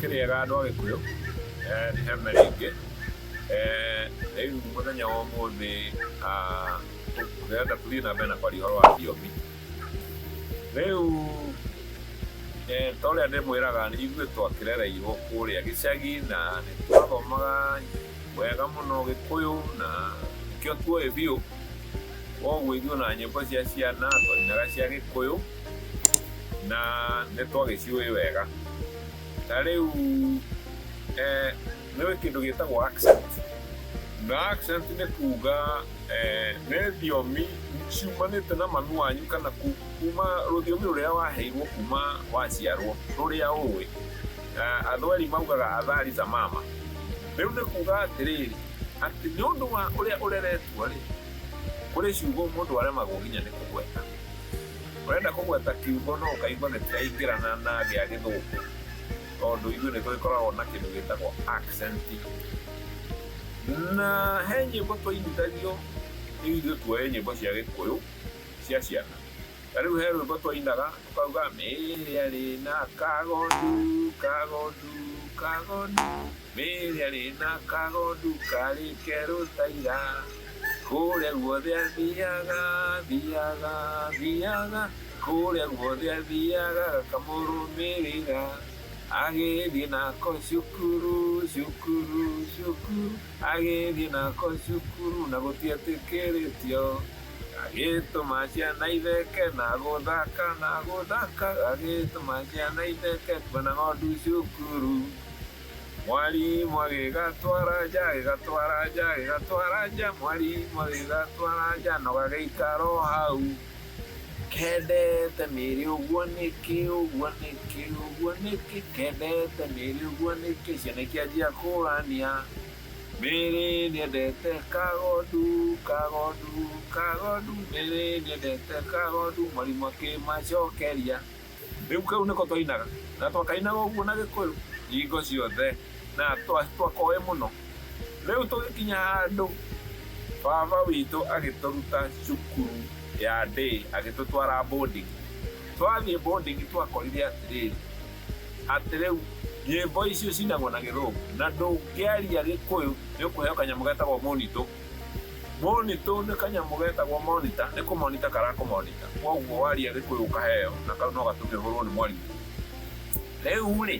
Kĩrĩega andũ a Gĩkũyũ, eh, nĩ Hema rĩngĩ. Eh, Rĩu mũthenya wa ũmũthĩ ah, ndĩrenda tũthiĩ na mbere na kwaria ũhoro wa thiomi. Rĩu eh, ta ũrĩa ndĩmwĩraga nĩ ithuĩ twakĩrereirwo kũrĩa gĩcagi na nĩ twathomaga wega mũno Gĩkũyũ na nĩkĩo tuoĩ biũ. Koguo ithuĩ ona nyĩmbo cia ciana twainaga cia Gĩkũyũ. na nĩ twagĩciũĩ wega na rĩu eh, nĩ wĩ kĩndũ gĩtagwo accent na accent nĩ kuga eh, nĩ thiomi ciumanĩte na mami wanyu kana ku- kuma rũthiomi rũrĩa waheirwo kuma waciarwo rũrĩa ũĩ Na andũ eri maugaga athari za mama rĩu nĩ kuga atĩrĩrĩ atĩ nĩ ũndũ wa ũrĩa ũreretwo rĩ kũrĩ ciugo mũndũ aremagwo nginya nĩ kũgweta Ũrenda kũgweta kiugo no ũkaigua nĩ tũraingĩrana na gĩa gĩthũngũ tondũ ithuĩ nĩ tũgĩkoragwo na kĩndũ gĩtagwo accent. Na he nyĩmbo twainithagio nĩ ithuĩ tuoe nyĩmbo cia gĩkũyũ cia ciana. Na rĩu he rwĩmbo twainaga tũkauga mĩĩrĩ arĩ na kagondu, kagondu, kagondu. Mĩĩrĩ ĩrĩ na kagondu karĩ kerũ ta ira, kũrĩa guothe athiaga, athiaga, athiaga, kũrĩa guothe athiaga gakamũrũmĩrĩra, agĩthiĩ nako cukuru, cukuru, cukuru, agĩthiĩ nako cukuru na gũtietĩkĩrĩtio, gagĩtũma ciana itheke na gũthaka, na gũthaka, gagĩtũma ciana itheke kuona ng'ondu cukuru. Mwarimũ agĩgatwara nja, agĩgatwara nja, agĩgatwara nja, mwarimũ agĩgatwara nja, no gagĩikara o hau. Kendete mĩrĩ ũguo nĩkĩ, ũguo nĩkĩ, ũguo nĩkĩ, kendete mĩrĩ ũguo nĩkĩ, ciana ikĩanjia kũrania. Mĩrĩ nĩendete kagondu, kagondu, kagondu, mĩrĩ nĩendete kagondu, mwarimũ akĩmacokeria. Rĩu kau nĩko twainaga, na twakainaga ũguo na Gĩkũyũ hingo ciothe, na twakoĩ mũno. Rĩu tũgĩkinya handũ, baba witũ agĩtũruta cukuru ya day agĩtũtwara boarding. Twathiĩ boarding twakorire atĩrĩrĩ, atĩ rĩu nyĩmbo icio icinagwo na Gĩthũngũ, na ndũngĩaria Gĩkũyũ nĩũkũheo kanyamũ getagwo mũnitũ. Monito nĩ kanyamũ getagwo monita, nĩ kũmonita karakũmonita. Koguo waria gĩkũyũ ũkaheo na kau no gatũme ũhũrwo nĩ mwarimũ. Rĩu-rĩ,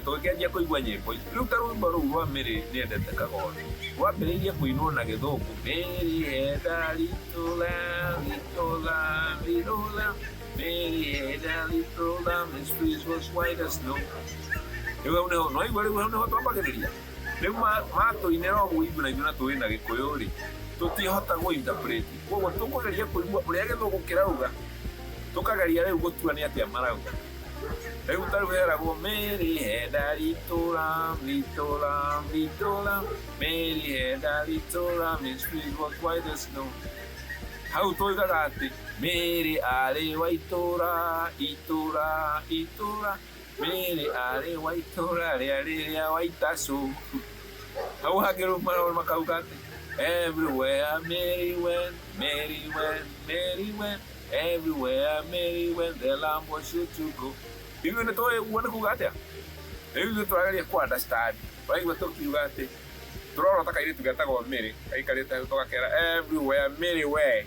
tũgĩkĩanjia kũigua nyĩmbo ici, rĩu ta rwĩmbo rũu rwa Mĩrĩ nĩendete kagondu, rwambĩrĩirie kũinwo na gĩthũngũ, Mĩrĩ enda little lamb, little lamb, little lamb, Mĩrĩ enda little lamb, his face was white as snow. Rĩu hau nĩho, nĩwaigua rĩu hau nĩho twambagĩrĩria? Rĩu matũinĩra ũguo ithuĩ na ithuĩ na tũĩ na gĩkũyũ rĩ, tũtiĩhota gũ interpret. Koguo tũkũgeria kũigua ũrĩa gĩthũngũ kĩrauga, tũkageria rĩu gũtua nĩ atĩa marauga. Rĩu ta rĩu heragwo Mary henda ritũra, ritũra, ritũra, Mary henda ritũra, Miss Piggy was white as snow. Hau tũigaga atĩ Mary arĩ wa itũra, itũra, itũra, Niĩ arĩ wa itũũra rĩarĩ rĩa Waitacu, hau hangĩ rĩu maroro makauga atĩ, Everywhere Mary went, Mary went, Mary went, Everywhere Mary went, the lamb was sure to go. Ithuĩ nĩ tũĩ ũguo nĩ kuuga atĩa? Rĩu ithuĩ tũrageria kũ understand, ũraigua tũkiuga atĩ, tũrorota kairĩtu getagwo Mary gaikarĩte hau tũgakera, Everywhere Mary went,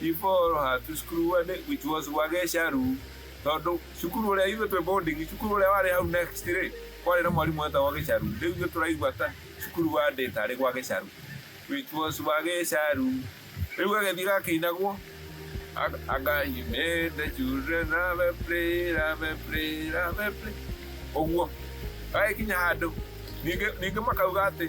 Before ha to school and it, which was Wagesha Room, tondũ cukuru ũrĩa ithuĩ twĩ boarding, cukuru ũrĩa warĩ hau next rĩ, kwarĩ na mwarimũ wetagwo Gĩcaru. Rĩu ithuĩ tũraigua ta cukuru wa ndĩ tarĩ gwa Gĩcaru, which was Wagesharu. Rĩu gagĩthiĩ gakĩinagwo, anga he made the children have a play, have a play, have a play. Ũguo. Gagĩkinya handũ, ningĩ ningĩ makauga atĩ,